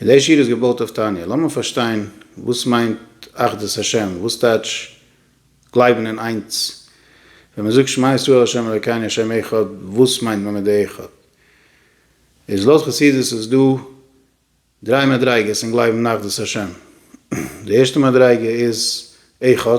און די שיר איז געבויט אויף תניא, לאמיר פארשטיין וואס מיינט אחדות השם, וואס טייטש גלייבן אין איינס, ווען מען זאגט שמע ישראל השם אלקינו השם אחד, וואס מיינט מען מיט די אחד? איז לויט חסידות איז דא דריי מדריגות אין גלייבן אין אחדות השם, די ערשטע מדריגה איז אחד,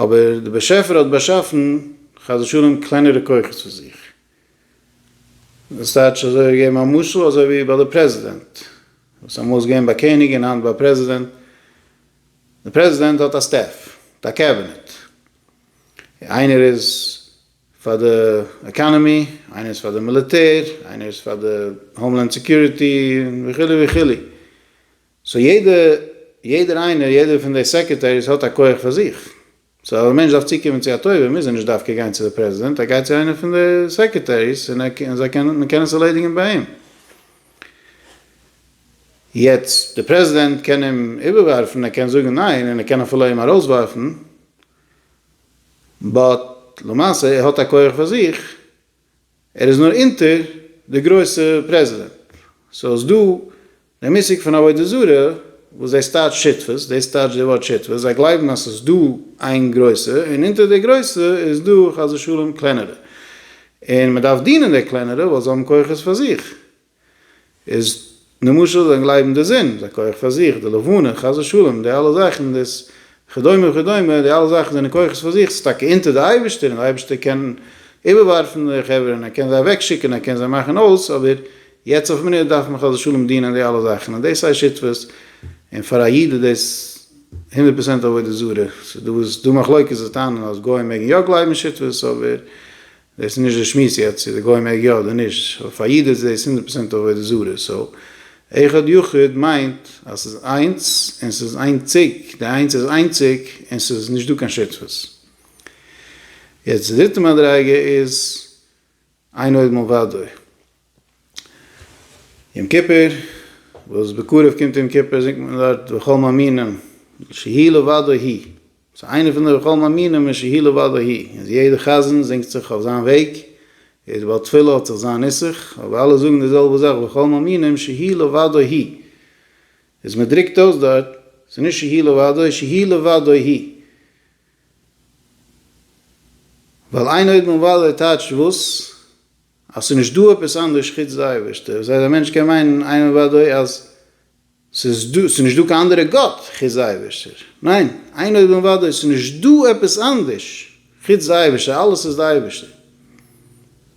אבער דער באשעפער האט באשאפן חס ושלום קלענערע כוחות פאר זיך. דאס טייטש אזוי ווי געבן א משל אזוי ווי ביי די פרעזידענט וואס אמאל איז געווען ביי קעניג און היינט ביי פרעזידענט. די פרעזידענט האט א סטעף, א קעבינעט. איינער איז פאר די עקאנעמי, איינער איז פאר די מיליטער, איינער איז פאר די האומלענד סעקיוריטי וכו' וכו'. סאו יעדע יעדער איינער יעדער פון די סעקערטעריס האט א כח פאר זיך. סאו אז א מענטש דארף צוקומען צו א טובה מוז ער נישט דווקא גיין צו די פרעזידענט, ער גייט צו איינער פון די סעקערטעריס און ער און זיי קענען מען קען עס ערלעדיגען ביי אים. יעצט די פרעזידענט קען אים איבערווארפן ער קען זאגן ניין און ער קען אפילו אים ארויסווארפן באט למעשה ער האט א כח פאר זיך. ער איז נאר אונטער די גרויסע פרעזידענט, סאו איז דא די מושג פון עבודה זרה וואס דאס טייטשט שותפות, דאס טייטשט די ווארט שותפות, זיי גלייבן אז ס'איז דא איין גרויסע און אונטער די גרויסע איז דא חס ושלום קלענערע און מ'דארף דינען די קלענערע ווייל זיי האבן כוחות פאר זיך. איז למשל זיי גלייבן די זון איז א כח פאר זיך, די לבנה, חס ושלום, די אלע זאכן דאס כדומה וכדומה, די אלע זאכן זענען כוחות פאר זיך, ס'איז טאקע אונטער די אייבערשטער און די אייבערשטער קען איבערווארפן די חברה און ער קען זיי אוועקשיקן ער קען זיי מאכן אויס אבער יעצט אויף מינוט דארף מען חס ושלום דינען די אלע זאכן און דאס הייסט שותפות און פאר א איד איז דאס הונדערט פראצענט עבודה זרה, ס'איז דא וואס דא מחלוקת וואס טענה'ן אז גוים מעגן יא גלייבן אין שותפות אבער דאס איז נישט די שמועס יעצט צו די גוי מעג יא אדער נישט, אבער פאר א איד איז דאס הונדערט פראצענט עבודה זרה, סאו אחד יחיד מיינט אז ס'איז איינס און ס'איז איינציג, די איינס איז איינציג און ס'איז נישט דא קיין שותפות. יעצט די דריטע מדריגה איז אינו עד מלבדו, יום כיפור, וואס בקרוב קומט יום כיפור זינגט מען דארט וכל מאמינים שיהי' לבדו הי', סאו איינער פון די וכל מאמינים איז שיהי' לבדו הי', איז יעדער חזן זינגט זיך אויף זיין וועג, יעדער בעל תפילה האט זיך זיין נוסח, אבער אלע זאגן די זעלבע זאך וכל מאמינים שיהי' לבדו הי', איז מען דרוקט אויס דארט, ס'איז נישט שיהי' לבדו שיהי' לבדו הי', ווייל איין אויבן אן וואדע טייטשט וואס? אז ס'איז נישט דא עפעס אנדערש חוץ די אייבערשטער, דאס הייסט א מענטש קען מיינען איין און אוודאי אז ס'איז דא, ס'איז נישט דא קיין אנדערע גאט חוץ די אייבערשטער, ניין, איין און אוודאי ס'איז נישט דא עפעס אנדערש חוץ די אייבערשטער, אלעס איז די אייבערשטער.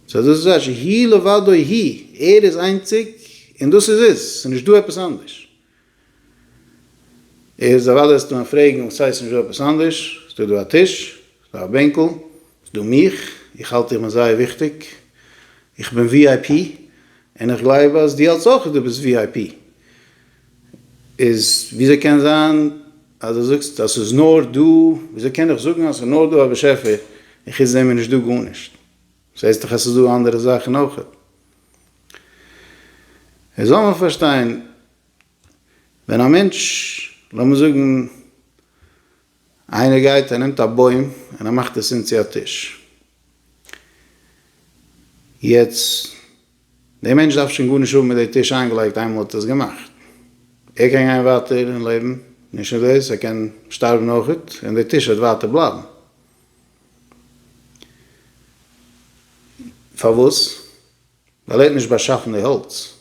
סא דאס איז אזש, הי' לבדו הי', ער איז איינציג און דאס איז עס, ס'איז נישט דא עפעס אנדערש. איז א וואדע סתם פרעגן וואס הייסט נישט דא עפעס אנדערש? ס'דא דא א טיש, ס'דא א בענקל, ס'דא מיך, איך האלט איך בין זייער וויכטיג, איך בין ווי איי פי, און איך גלייב אז דו האלטסט אויך אז דו ביסט ווי איי פי, איז וויאזוי קען זיין אז דו זאגסט אז ס'איז נאר דא, וויאזוי קען איך זאגן אז ס'איז נאר דא א באשעפער און חוץ דעם איז נישט דא גארנישט? זעסט דאך אז ס'איז דא אנדערע זאכן אויך. עס זאל מען פארשטיין, ווען א מענטש, לאמיר זאגן איינער גייט ער נעמט א בוים און ער מאכט עס אונז צו א טיש. יעצט, דער מענטש דארף שוין גארנישט האבן מיט די טיש איינגעלייגט איינמאל ער האט עס געמאכט. ער קען גיין ווייטער אין לעבן, נישט נאר דאס, ער קען שטארבן אויך און די טיש וועט ווייטער בלייבן. פארוואס? ווייל ער האט נישט באשאפן די האלץ.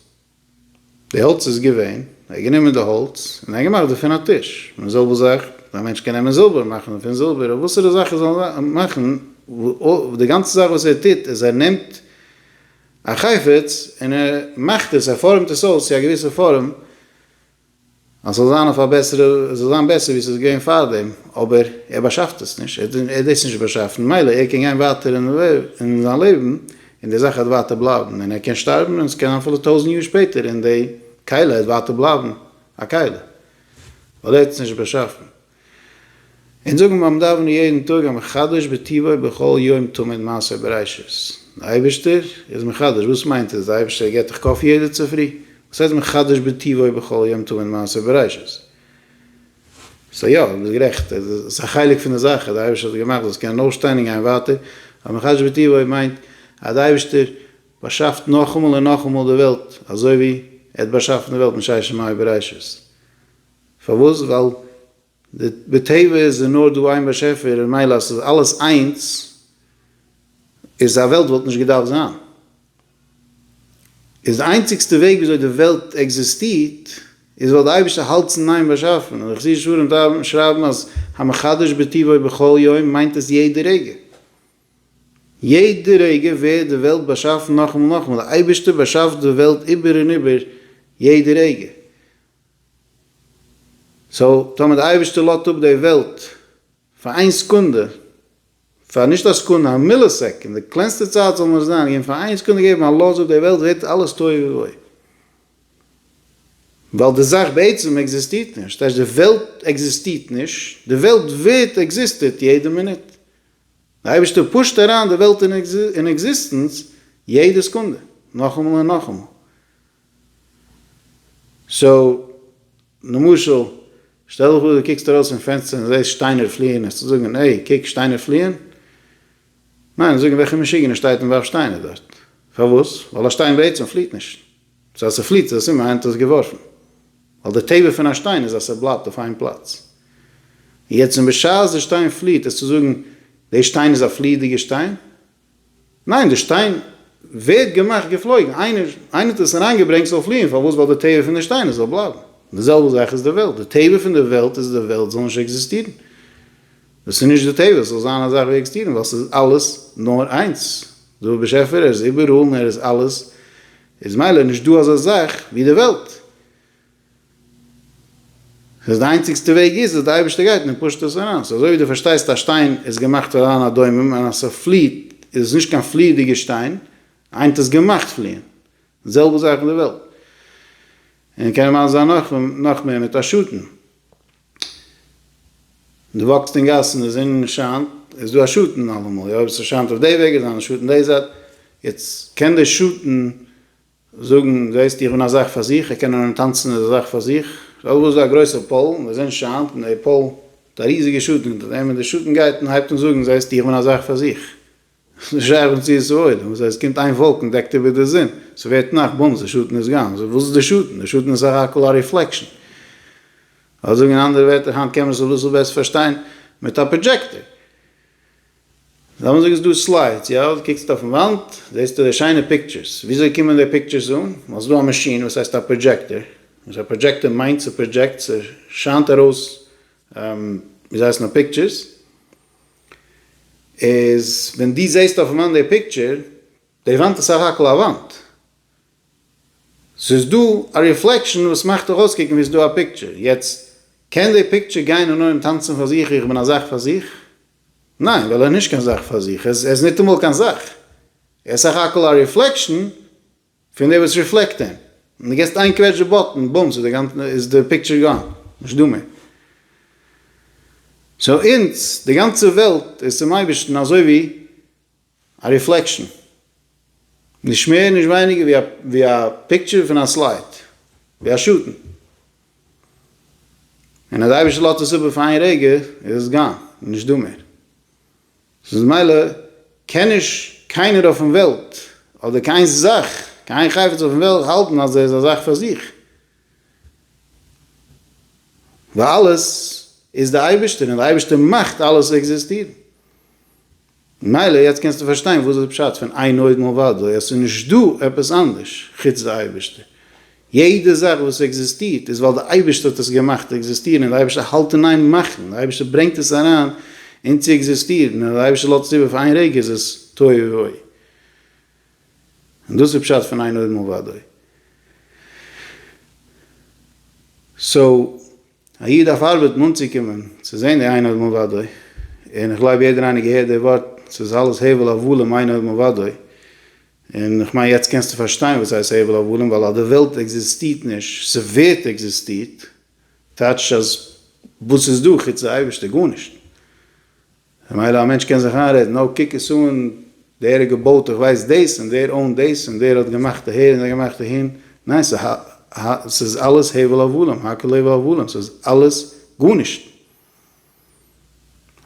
די האלץ איז געווען, ער האט גענומען די האלץ און ער האט געמאכט דערפון א טיש. מן זאב זאך, א מענטש קען נעמען זילבער און מאכן דערפון זילבער, אדער וואסערע זאך ער זאל מאכן, די גאנצע זאך וואס ער טוט איז ער נעמט א חפץ און ער מאכט עס, ער פארעמט עס אויס צו א געוויסע פארעם אז ס'זאל זיין אויף א בעסערע, עס זאל זיין בעסער ווי ס'איז געווען פארדעם, אבער ער באשאפט עס נישט, ער האט דאס נישט באשאפן, ממילא ער קען גיין ווייטער אין זיין לעבן, און די זאך העט ווייטער בלייבן, און ער קען שטארבן, און עס קען זיין אפילו טויזנט יאר שפעטער, און די כלה העט ווייטער בלייבן א כלה, ווייל ער האט עס נישט באשאפן. און זאגן ביים דאווענען יעדן טאג א מחדש בטבו בכל יום תמיד מעשה בראשית, די אייבערשטער איז מחדש, וואס מיינט עס? די אייבערשטער געט דיך קאפי יעדע צופרי? וואס הייסט מחדש בטבו בכל יום תמיד מעשה בראשית? סא יא, דו ביסט גערעכט, עס איז א חלק פון די זאך אז די אייבערשטער האט עס געמאכט זאלסט קענען אויפשטיין און גיין ווייטער, אבער מחדש בטבו מיינט אז די אייבערשטער באשאפט נאכאמאל און נאכאמאל די וועלט, אזוי ווי ער האט באשאפן די וועלט מששת ימי בראשית. פארוואס? ווייל בטבע איז נאר דא איין באשעפער און מילא אז ס'איז אלעס איינס איז א וועלט וואלט נישט געדארפט זיין. איז די איינציגסטע וועג וויאזוי די וועלט עקזיסטירט איז ווייל די אייבערשטער האלט ס'איז ניין באשאפן. און די חסידישע ספרים שרייבן אז המחדש בטבעו בכל יום מיינט עס יעדע רגע. יעדע רגע ווערט די וועלט באשאפן נאכאמאל נאכאמאל. די אייבערשטער באשאפט די וועלט איבער און איבער יעדע רגע. סאו טאמער די אייבערשטער לאט אפ די וועלט פאר איין סעקונדע, פאר נישט א סעקונדע, א מיליסעקענד, די קלענסטע צייט זאל נאר זיין, געבן פאר איין סעקונדע געבן א לאז אפ די וועלט ווערט אלעס תוהו ובוהו. ווייל די זאך בעצם עקזיסטירט נישט, טייטש די וועלט עקזיסטירט נישט, די וועלט ווערט עקזיסטעט יעדע מינוט. די אייבערשטער פושט אריין די וועלט אין עקזיסטענץ יעדע סעקונדע, נאכאמאל און נאכאמאל. סאו, למשל, שטעל דיך פאר דו קוקסט ארויס פון פענסטער און זעסט שטיינער פליען, וועסטו זאגן, העי, קוק, שטיינער פליען? ניין, וועסט זאגן, וועלכע משוגענער שטייט און ווארפט שטיינער דארט? פארוואס? ווייל א שטיין בעצם פליעט נישט. סאו אז ס'פליעט איז עס סימן איינער האט עס געווארפן. ווייל די טבע פון א שטיין איז אז ס'בלייבט אויף איין פלאץ. און יעצט, און בשעת די שטיין פליעט, עסטו זאגן, די שטיין איז א פליעדיגע שטיין? ניין די שטיין ווערט געמאכט געפלויגן, איינער איינער האט עס אריין געברענגט ס'זאל פליען, פארוואס ווייל די טבע פון די שטיין עס זאל בלייבן, די זעלבע זאך איז די וועלט, די טבע פון די וועלט איז די וועלט זאל נישט עקזיסטירן, דאס איז נישט די טבע עס זאל זיין א זאך ווי עקזטירן ווייל ס'איז אלעס נאר איינס, די באשעפער ער איז איבעראל און ער איז אלעס איז מילא נישט דא אזא זאך ווי די וועלט. אז די איינציגסטע וועג איז אז די אייבערשטער גייט און ער פושט עס ארויס, אזוי ווי דו פארשטייסט א שטיין איז געמאכט פאר אן אדומים און אז ס'פליעט איז עס נישט קיין פליעדיגע שטיין, היינט איז געמאכט פליען, די זעלבע זאך אין די וועלט, און קען ממש זיין נאך און נאך מער מיט א שטן, דו וואקסט אין גאס און די זון שיינט איז דא א שטן אלעמאל, אויב עס שיינט אויף די וועג איז דא א שטן די זייט, יעצט קען די שטן זאגן, זעסט, איך בין א זאך פאר זיך, איך קען נאר אנטאנצן איז א זאך פאר זיך. שאל וואס איז א גרויסע פאל, ווען די זון שיינט און די פאל האט א ריזיגע שאטן אונטער דעם, און די שאטן גייט און הייבט אן זאגן, זעסט, איך בין א זאך פאר זיך. עס איז נישט שייך ווען צו עס איז אויל, וואס הייסט קומט איין וואלקן און דעקט איבער די זון, עס ווערט נאכט, בומס, די שאטן איז גאן. וואס איז די שאטן? די שאטן איז סך הכל א ריפלעקשן. אדער זאגן אין אנדערע ווערטער, היינט קען מען עס אביסל בעסער פארשטיין, מיט א פראדזשעקטער. זענען זיך עס דא סליידס, יא? דו קוקסט אויפן וואנט, זעסטו די שיינע פיקטשערס. וויאזוי קומען די פיקטשערס אן? ווייל ס'דא א מאשין וואס הייסט א פראדזשעקטער, וואס א פראדזשעקטער מיינט ס'פראדזשעקט, ס'שיינט ארויס ווי זיי הייסן א פיקטשערס. איז ווען דו זעסט אויפן וואנט די פיקטשער, די וואנט איז סך הכל א וואנט. ס'איז דא א ריפלעקשאן וואס מאכט דיך אויסקוקן ווי ס'איז דא א פיקטשער. יעצט, קען די פיקטשער גיין און ארום טאנצן פאר זיך, איך בין א זאך פאר זיך? ניין, ווייל ער איז נישט קיין זאך פאר זיך, ער איז ניטאמאל קיין זאך, ער איז סך הכל א ריפלעקשאן פון דער וואס ריפלעקט אים, און דו גיבסט איין קוועטש די באטן, בומס, איז די פיקטשער גאן, נישט דא מער. סאו אונז, די גאנצע וועלט איז צום אייבערשטן אזוי ווי. א ריפלעקשאן. נישט מער נישט ווייניגער ווי א פיקטשער פון א סלייט. ווי א שאטן. און אז די אייבערשטער לאזט עס איבער פאר איין רגע איז עס גאן. נישט דא מער. סאו ממילא קען נישט קיינער אויפן וועלט אדער קיין זאך, קיין חפץ אויפן וועלט האלטן אז ער איז א זאך פאר זיך. ווייל אלעס איז די אייבערשטער און די אייבערשטער מאכט אלעס עקזיסטירן. ממילא יעצט קענסטו פארשטיין וואס איז פשט פון איין אויבן און ודל י, עס איז נישט דא עפעס אנדערש חוץ די אייבערשטער, יעדע זאך וואס עקזיסטירט איז ווייל די אייבערשטער האט עס געמאכט עקזיסטירן און די אייבערשטער האלט אין איין מאכן, די אייבערשטער ברענגט עס אריין אין צו עקזיסטירן און אז די אייבערשטער לאזט עס איבער פאר איין רגע איז עס תוהו ובוהו, און דאס איז פשט פון איין אויבן און ודל י. סאו א איד דארף ארבעטן אנצוקומען צו זען די עין האדמו ודו, און איך גלייב יעדער איינער געהערט די ווארט ס'איז אלעס הבל הבלים עין האדמו ודו, און איך מיין יעצט קענסטו פארשטיין וואס הייסט הבל הבלים, ווייל אז די וועלט עקזיסטירט נישט, ס'ווערט עקזיסטירט, טייטש אז וואס איז דא חוץ די אייבערשטער? גארנישט. ממילא א מענטש קען זיך איינרעדן אוי קוק עס אן דער האט געבויט איך ווייס דאס און דער אוינט דאס און דער האט געמאכט אהער און דער האט געמאכט אהין, ניין ס'איז אלעס הבל הבלים, הכל הבל הבלים, ס'איז אלעס גארנישט.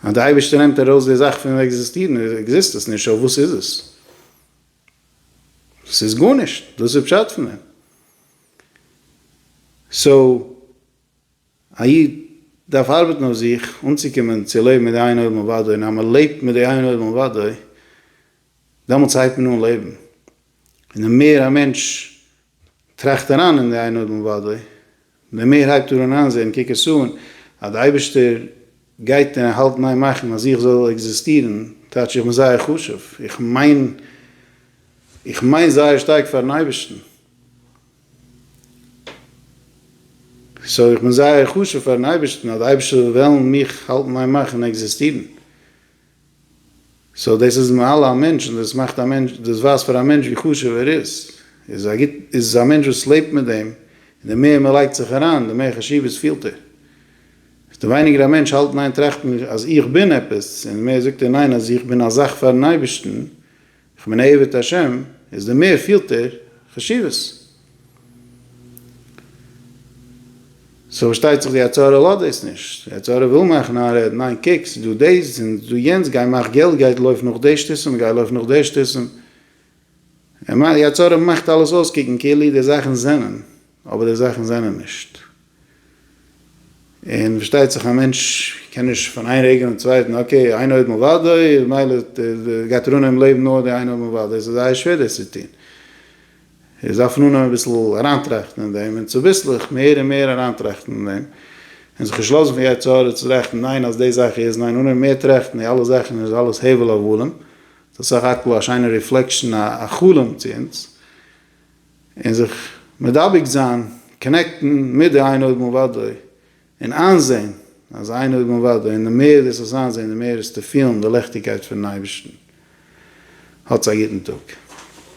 אז די אייבערשטער נעמט ארויס די זאך פון עקזיסטירן עקזיסט עס נישט, סאו וואס איז עס? ס'איז גארנישט, דאס איז פשט פון דעם. סאו. א איד דארף ארבעטן אויף זיך אנצוקומען צו לעבן מיט די עין אויבן אוודאי, און אז מען לעבט מיט די עין אויבן אוודאי, דעמאלטס הייבט מען אן לעבן, און די מער א מענטש טראכט אריין אין די עין אויבן אוודאי, די מער הייבט ער אן איינזען, קוק עס אן, אז די אייבערשטער גייט און ער האלט ניין מאכן אז איך זאל עקזיסטירן, טייטש איך בין זייער חשוב, איך מיין איך מיין זייער שטארק פארן אייבערשטן, סאו איך בין זייער חשוב פארן אייבערשטן אז די אייבערשטער זאל וועלן מיך האלטן אין מאך און עקזיסטירן, סאו דאס איז מעלה א מענטש און דאס מאכט א מענטש, דאס ווייזט פאר א מענטש ווי חשוב ער איז, איז א גוט, איז א מענטש וואס לעבט מיט דעם, און די מער מען לייגט זיך אריין די מער חשיבות פילט ער, איז די ווייניגער א מענטש האלט ניין טראכט מען אז איך בין עפעס, און די מער זאגט ער ניין אז איך בין א זאך פארן אייבערשטן, כ'מיין עבד השם איז די מער פילטער חשיבות. סאו פארשטייט זיך די יצה ר לאזט דאס נישט. די יצה ר וויל מאכן איין רעד, ניין קוק ס'דא דאס און ס'דא יענץ גיי מאך געלט גיי לויף נאך די שטותים גיי לויף נאך די שטותים. די יצה ר מאכט אלעס אויסקוקן כאילו די זאכן זענען אבער די זאכן זענען נישט. און פארשטייט זיך א מענטש קען נישט פון איין רגע און צווייטן אקעי איין עוד מלבדו מילא גייט רונען אין לעבן נאר די איין עוד מלבדו עס איז זייער שווער דאס צו טון עס דארף אן אנהייבן אביסל אריינטראכטן אין דעם און צוביסלעך מער און מער אריינטראכטן אין דעם און זיך נישט לאזן פון יצר הרע צו טראכטן ניין אז די זאך איז ניין אנהייבן מער טראכטן די אלע זאכן איז אלעס הבל הבלים סך הכל א שיינע ריפלעקשן א חלום צו אונז. און זיך מדבק זיין, קאנעקטן, מיט די עין אויבן ובדוי, און איינזען אז עין אויבן ובדוי, און די מער דאס וועסט איינזען די מער וועסטו פילן די לעכטיגקייט פונעם אייבערשטן. האטס א גוטן טאג.